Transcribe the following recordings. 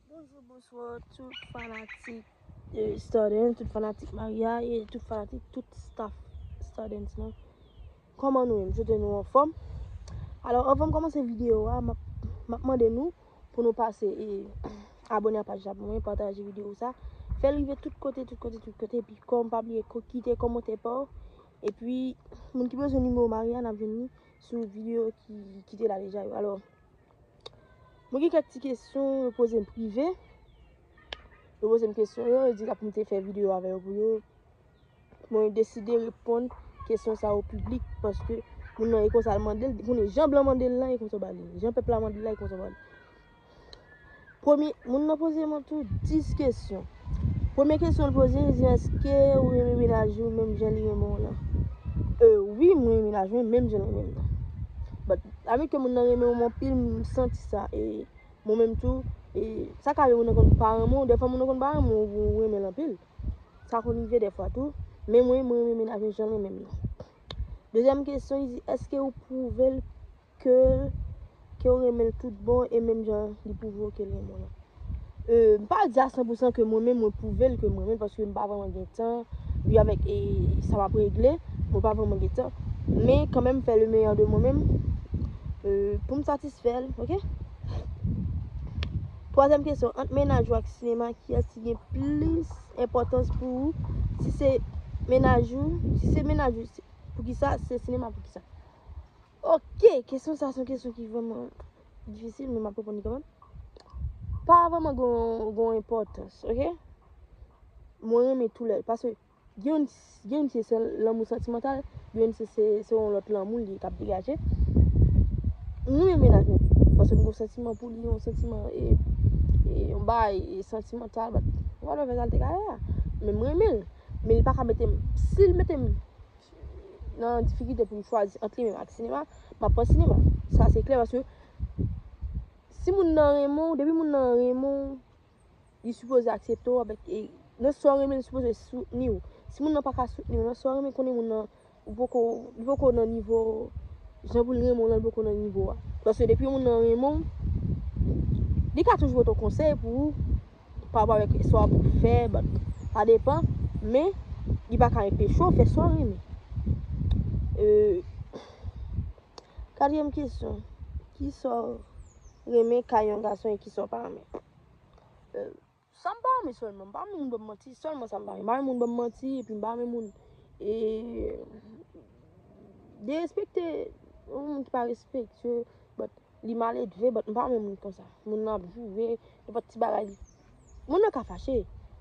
Bonjou bonswa tout fanatik stardens tout fanatik maria e tout fanatik tout staff stardens lan kòman nou ye m swete nou anfòm alò anvan m kòmanse videyo a m ap mande nou pou nou pase e abone a paj la pou mwen pataje videyo sa fè l rive tout kote tout kote tout kote epi kòm pa bliye kite kòmante pa w epi moun ki bezwen nimewo maria n ap jwenn li sou videyo ki te la deja yo alò Mwen gen kèk ti kesyon yo poze m prive. Yo poze m kesyon yo, yo di la pou m te fè videyo avè yo pou yo. Mwen deside reponn kesyon sa yo piblik paske moun nan e konsa l mande l, moun nan jan blan mande l lan e konsa l ba li. Jan pèp la mande l lan e konsa l ba li. Premye, moun nan poze mwen tou 10 kesyon. Premye kesyon l poze, li di, Èske ou renmen mennaj ou menm jan li renmen w lan? E, wi, mwen renmen mennaj mwen menm jan l renmen m lan. But, avèk ke moun nan renmen w anpil, m santi sa. E, mwen menm tou, e, sa ka rive moun nan konn pa renmen w. Dèfwa moun nan konn pa renmen w, ou renmen l anpil. Sa konn rive dèfwa tou. Men mwen, mwen renmen mennaj mwen jan l renmen m lan. Dezyèm kesyon, li di, Èske ou pwouve l ke'l ke'w renmen'l tout bon e menm jan li pwouve w ke'l renmen w lan. Euh m pa di a 100 pou 100 ke mwen menm mwen pwouve l ke m renmen l paske m pa vreman gen tan ui avèk sa map regle mwen pa vreman gen tan men kanmenm m fè le meyè de mwen menm euh poum satisfè l ok. Twazyèm kesyon ant mennaj ou ak sinema kiyès ki gen plis enpòtans pou ou si se mennaj ou si se mennaj ou poukisa si se sinema poukisa. Ok, kesyon sa son kesyon ki vreman difisil men map reponn li kanmenm. Pa vreman gon enpòtans, ok? Mwen renmen tou lè, paske gen yon se se lanmou santimantal, gen yon se se se yon lòt lanmou li kap degaje. Mwen renmen menaj mwen, paske mwen gon santiman pou li, yon santiman e, e yon bay, e santimantal, bat, whatever sa l te ka ye a. Men mwen renmen l, men li pa ka mete m, si l mete m nan difikilte pou m chwazi ant li menm ak sinema, m ap pran sinema. Sa se klè paske si moun nan renmen w, depi moun nan renmen w, li sipoze aksepte w avèk e nan sa w renmen li sipoze soutni w. Si moun nan pa ka soutni w nan sa w renmen, konnen moun nan ou poko, li poko nan nivo jan pou l renmen w lan li poko nan nivo a. Paske depi moun nan renmen w, li ka toujou pote w konsèy pou ou. pa wap avèk swa pou fè bon sa depan men li pa ka enpeche w fè sa w renmen. Katriyèm kesyon, ki sa w renmen kay yon gason e ki sa w pa renmen? Sa m pa renmen sèlman, m pa renmen moun banm manti, sèlman sa m pa renmen. M pa renmen moun banm manti epi m pa renmen moun e derespekte moun ki pa respektye w. Li maledve but m pa renmen moun konsa. Moun nan ap joure, nenpòt ti bagay li. Moun nan ka fache,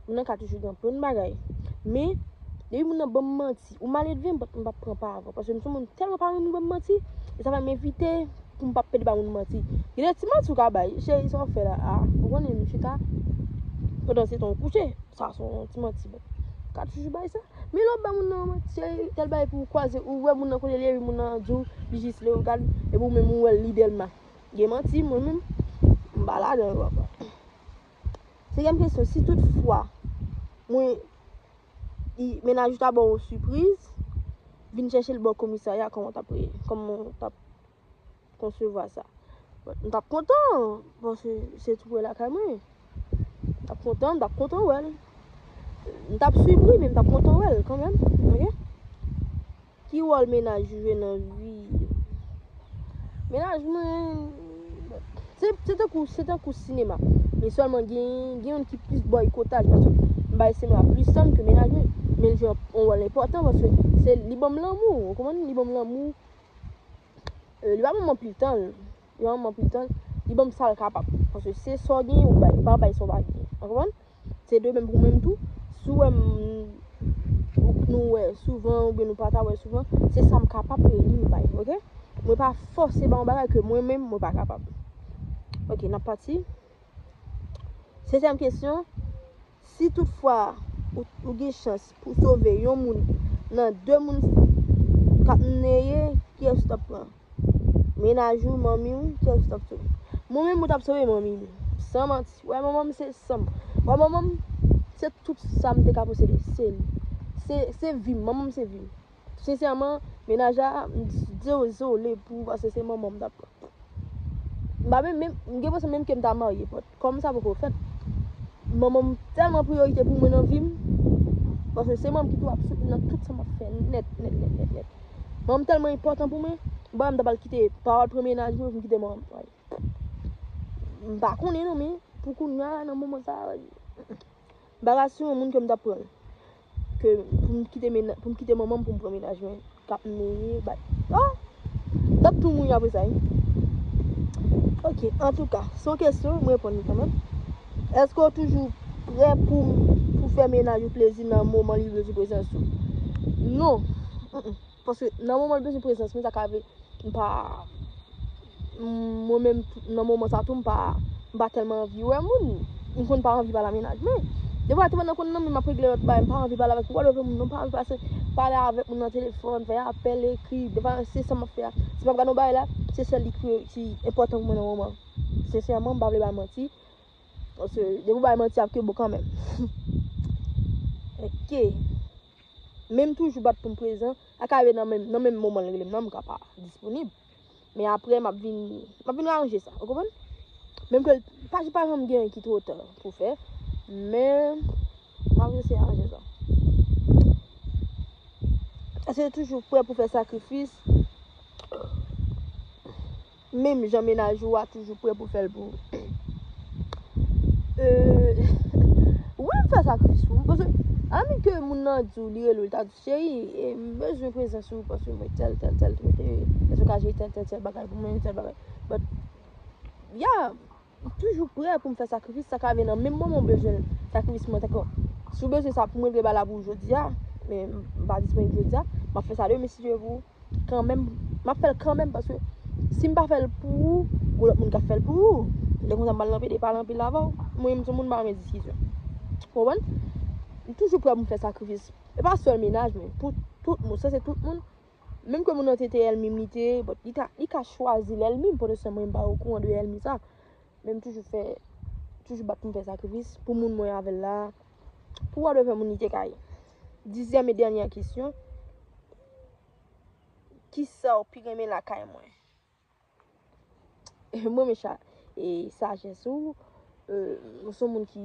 moun nan ka toujou gen plen bagay. Men, depi moun nan ban m manti, ou maledve m but m pap pran pa avè w. Paske m se yon moun m tèlman pa renmen moun ban m manti, e sa fè m evite pou m pa pèdi bay moun manti. Gen de ti manti ou ka bay, cheri sa w fè la a, ou konnen m chita pandan se tan ou kouche. Sa se yon ti manti but. Ou ka toujou bay sa. Milo ap bay moun nan manti a epi al bay epi ou kwaze ou wè moun nan kote li epi moun nan di w li jis Leogane epi ou menm ou wè l li Dèlma. Gen manti mwen menm m pa ladan yo anko. Senkyèm kesyon si tout fwa mwen mennaj ou ta ba w yon sipriz vin chèche l ba w komisarya kòman w t ap koman w t ap konsevwa sa. M tap kontan, paske se tou prè lakay mwen. M tap kontan, m tap kontan wè l. M tap swiv wi, men m tap kontan wè l kanmèm. Ok? Ki wòl menaj ou jwe nan vi? Menaj mwen, se tankou, se tankou sinema. Men sèlman gen, gen yon ki plis bòykotaj, paske m bay sinema plis tan ke menaj mwen. Men l jwe yon wòl enpòtan, paske se li banm lanmou, ou konprann? Li banm lanmou, li pa banm anpil tan, li pa banm anpil tan, li banm sal kapab, paske se sa w genyen ou bay, ou pa bay sa w pa genyen, ou konprann? Se de menm pou menm tou, si w wèm nou wè souvan oubyen nou pa ta wè souvan, se sa m kapab e li m bay, ok? Mwen pa fòse ba yon bagay ke mwen menm mwen pa kapab. Ok, n ap pati. Setyèm kesyon, Si tout fwa ou gen chans pou sove yon moun nan 2 moun kap neye kiyes ou tap pran? Menaj ou, manmi ou, kiyes ou tap sove? Mwen menm mwen tap sove manmi m. San manti. Ou wè manman m se san m. Ou wè manman m se tout sa m te ka posede. Se li. Se vi m. Manman m se vi m. Sinsèman, mennaj la, m dezole pou ou pase se manman m t ap pran. M pa menm, m gen enpresyon menm ke m ta marye bòt. Kòm sa poko fèt, manman m tèlman priyorite pou mwen nan vi m, paske se manman m ki tou ap soutni m nan tout sa m ap fè nèt, nèt, nèt, nèt, nèt. Manman m tèlman enpòtan pou mwen, m pa menm ta pral kite pa al pran mennaj mwen pou m kite manman m. M pa konnen non men, pou kounya nan moman sa a. Barasyon yon moun ke m tap pran ke pou m kite mena pou m kite manman m pou m pran menaj mwen kap neye bay ah m tap tou mouri apre sa wi ok antouka se yon kesyon m reponn li kanmenm eske w toujou prè pou m pou fè menaj ou plezi nan moman li bezwen prezans ou non Paske nan moman l bezwen prezans mwen sa ka vle m pa mwen menm nan moman sa tou m pa m pa tèlman anvi wè moun m konn pa anvi pale a mennaj mwen defwa a ti pandan konn nan men m ap regle lòt bagay m pa anvi pale avèk wòl avèk moun non m pa anvi pase pale avèk moun nan telefòn fè apèl ekri defwa se sa m ap fè a si m ap gad yon bagay la se sèl li ki ki enpòtan pou mwen nan moman sensèman m pa vle bay manti paske depi w bay manti ap gen bon kanmenm ok. men m toujou bat pou m prezan, ak Ayo nan menm nan menm moman l rele m nan m ka pa disponib men aprè m ap vin m ap vin ranje sa ou konprann menm ke l pa pa janm gen anyen ki two ta pou fè men m ap eseye ranje sa eseye toujou prè pou fè sakrifis. Menm jan mennaj ou a toujou prè pou fèl pou ou. Euhh wi m fè sakrifis pou ou paske annik ke moun nan di w li rele w li ta di w cheri m bezwen prezans ou paske mwen tèl tèl tèl tèl tèl bagay pou mwen tèl bagay but yeah. M toujou prè pou m fè sakrifis sa ka vin nan menm moman ou bezwen l sakrifis mwen tankou si w bezwen sa pou m regle ba la pou w jodi a men m pa disponib jodi a m ap fè sa demen si Dye vle kanmenm m ap fè l kanmenm paske si m pa fè l pou ou gen lòt moun k ap fè l pou ou lè konsa m al nan pede pale anpil avan w mwen menm m se yon moun m pa renmen diskisyon ou konprann m toujou prè pou m fè sakrifis e pa sèl mennaj mwen pou tout moun sa se tout moun Menm ke moun nan te te èlmi m, li te, but li ka, li ka chwazi l èlmi m, pou otosan mwen m pa okouran de èlmi sa. Men m toujou fè, toujou bat pou m fè sakrifis, pou moun mwen avè l la. Pou wa dwe fè moun li te ka ye. Dizyèm e dènyè kesyon, Kisa w pi renmen lakay mwen? Mwen renmen cha, e sajès ou, ou se yon moun ki.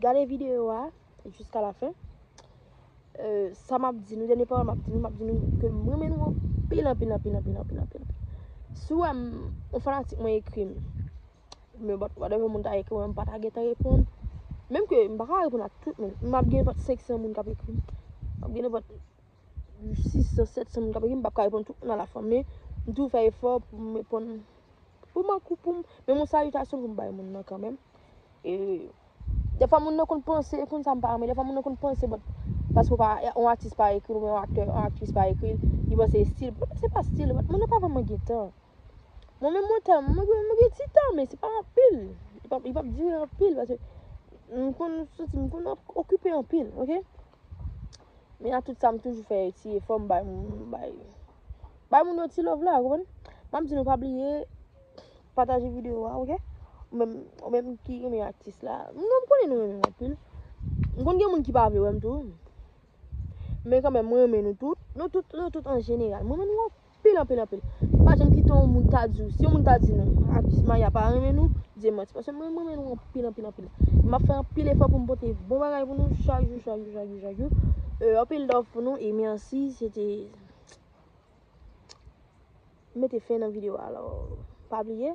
Gade video a jiska la fen. Sa map di nou, dènye pawòl map di nou, map di nou ke m renmen nou anpil, anpil, anpil, anpil, anpil, anpil. Si w wè m, yon fanatik mwen ekri m, mwen bat wade yon moun ta ekri mwen, m pa ta gen tan reponn. Menm ke m pa ka reponn ak tout moun, m ap gen vòt 500 moun kap ekri m. M ap gen vòt. 600, 700 moun k ap ekri m, m pap ka reponn tout moun a la fwa, men m toujou fè efò pou m reponn, pou m ankou pou m, menm yon salitasyon pou m bay moun nan kanmenm. E, defwa moun nan konn panse, e konn sa m pa renmen, defwa moun nan konn panse bon, paske ou pa, yon atis pa ekri l, oubyen yon aktè, yon aktris pa ekri l, li panse estil, se pa estil, moun nan pa vreman gen tan. Mwen menm mwen tan, mwen gen mwen gen ti tan men se pa anpil. Li pap li pap dire anpil pase m konn soti m konn okipe anpil ok. Men a tout sa m toujou fè ti efò m bay moun m bay bay moun yo ti love la ou konprann. M ap di nou pa bliye pataje videyo a ok. Ou menm ou menm ki renmen atis la, m nou m konnen nou renmen m anpil. M konn gen moun ki pa vle wè m tou. Men kanmenm mwen renmen nou tout, nou tout nou tout an jeneral. M renmen nou anpil. anpil anpil anpil pa janm kite yon moun ta di w si yon moun ta di nou atis maya pa renmen nou di e manti paske mwen renmen nou anpil anpil anpil m ap fè anpil efò pou m pote bon bagay pou nou chak jou chak jou chak jou chak jou e anpil love pou nou e mèsi se te m mete fen nan videyo a alò pa bliye